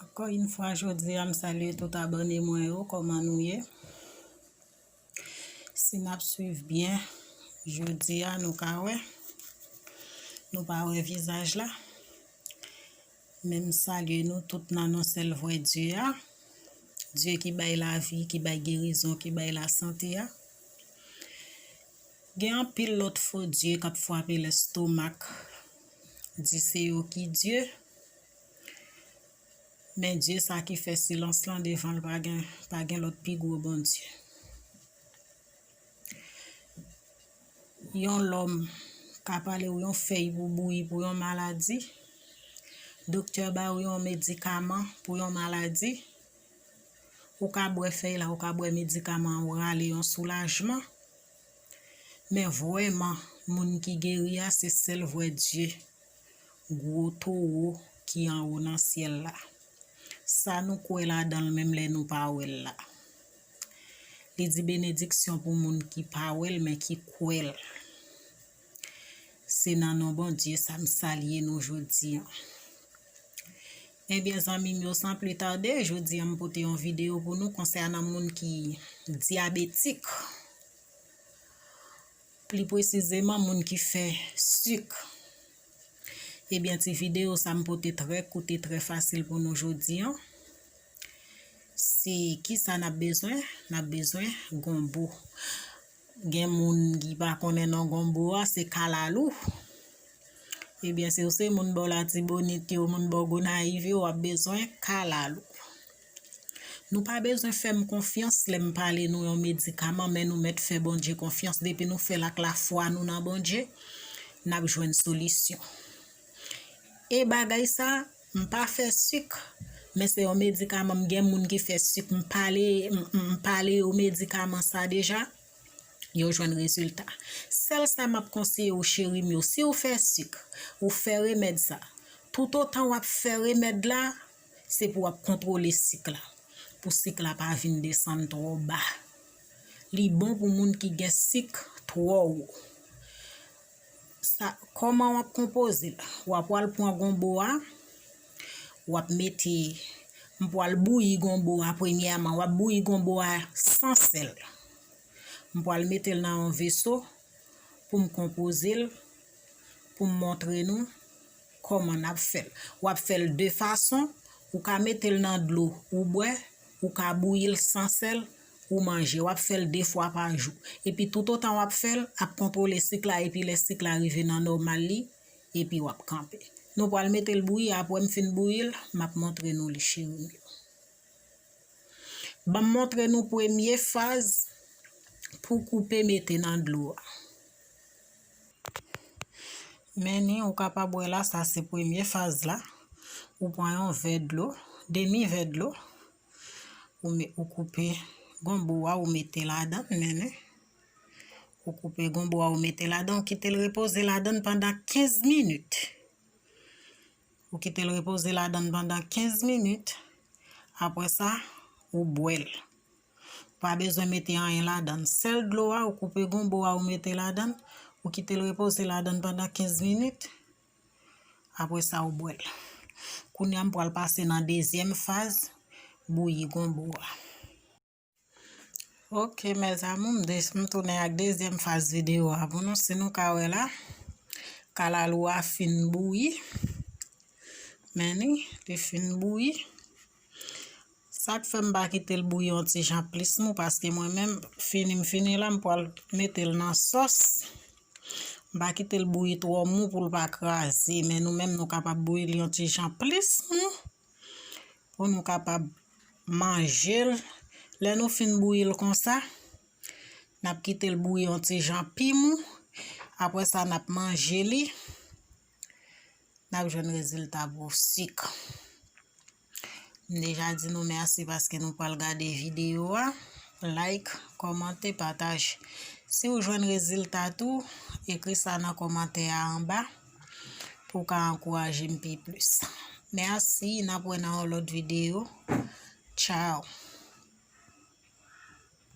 Ankò yn fwa jodi a m salye tout abòne mwen yo kòman nou ye si nap swiv byen jodi a nou ka wè nou pa wè vizaj la Men m salye nou tout nan non sèl vrè Dye a, Dye ki bay lavi, ki bay gerizon, ki bay lasante a. Gen anpil lòt fo dye k ap fwape lèstomak, di se yo ki Dye, men Dye sa ki fè silans lan devan l pa gen lòt pi gwo Bondye. Yon lòm ka pale ou yon fèy pou bouyi pou yon maladi. Doktè ba ou yon medikaman pou yon maladi. Ou ka bwè fèy la, ou ka bwè medikaman ou rale yon soulajman. Men vwèman, moun ki geri a se sèl vwè Dye. Gwo towo ki anwo nan syèl la. Sa nou kwè ladan l menm lè nou pa wè l la. Li di benediksyon pou moun ki pa wè l men ki kwè l. Se nan non Bondye sa m salye nou jodi an. Ebyen zanmi m yo san pli tade, jodi an m pote yon videyo pou nou konsènan moun ki dyabetik. Pli pwesizeman moun ki fè sik. Ebyen ti videyo sa m pote trè kout e trè fasil pou nou jodi an. Si kisa nap bezwen, nap bezwen gonbo. Gen moun ki pa konnen non gonbo a, se kalalou. Ebyen si ou se moun bò latibonit yo, moun bò gonayiv yo, wap bezwen kalalou. Nou pa bezwen fè m konfyans lè m pale nou yon medikaman men nou mèt fè Bondye konfyans. Depi nou fè l ak lafwa nou nan Bondye, nap jwenn solisyon. E bagay sa. M pa fè suk men se yon medikaman m gen moun ki fè suk m pale m pale yo medikaman sa deja yo jwenn rezilta sèl sa map konseye ou cheri m yo siw fè suk ou fè remèd sa tout otan wap fè remèd la se pou wap kontwole suk la pou suk la pa vin desann twò ba li bon pou moun ki gen suk twò wo. Sa kòman wap konpoze l. Wa pwal pwan gonbo a. Wap mete. M pwal bouyi gonbo a premyèman. Wap bouyi gonbo a san sèl. M pwal mete l nan yon veso. Poum konpoze l. Poum montre nou. Kòman nap fè l. Wap fè l de fason. Ou ka mete l nan dlo ou bwè. Ou ka bouyi l san sèl. ou manje, wap fèl 2 fwa pa jou. Epi tout otan wap fèl, ap kontwole sik la epi lè sik la rive nan nòmal li, epi wap kanpe. Nou pwal metel bouyi apwè m fin bouyil, map montre nou li cheri m yo. Banm montre nou premye faz pou koupe mete nan dlo a. Meni ou kapab wè la sa se premye faz la. Ou pwan yon vè dlo, demi vè dlo. Ou koupe gonbo a ou mete ladan l menm. Ou koupe gonbo a ou mete ladan l. Ou kite l repoze ladan l pandan 15 minit. Ou kite l repoze ladan l pandan 15 minit. Apre sa, ou bwe l. Ou pa bezwen mete anyen ladan l. Sèl dlo a ou koupe gonbo a ou mete ladan l. Ou kite l repoze ladan l pandan 15 minit. Apre sa ou bwèl. Kounya m pral pase nan dezyèm faz bouyi gonbo a. Ok mes amour m des m tounen ak dezyèm faz video a pou nou si nou ka wè la kalalou a fin bouyi men ni li fin bouyi. Sak fè m pa kite l bouyi yon ti jan plis mou paske mwen menm fini m fini la m pwal mete l nan sòs. M pa kite l bouyi twò mou pou l pa kraze men nou menm nou kapab bouyi l yon ti jan plis mou pou nou kapab manje l. Lè nou fin bouyi l konsa, n ap kite l bouyi yon ti jan pi mou apre sa n ap manje li. Nap jwenn rezilta pou sik. M deja di nou mèsi paske nou pral gade videyo a. Like, kòmante, pataj. Si ou jwenn rezilta tou, ekri sa nan kòmantè a anba pou w ka ankouraje m pi plis. Mèsi, nap wè nan yon lòt videyo. Tchao!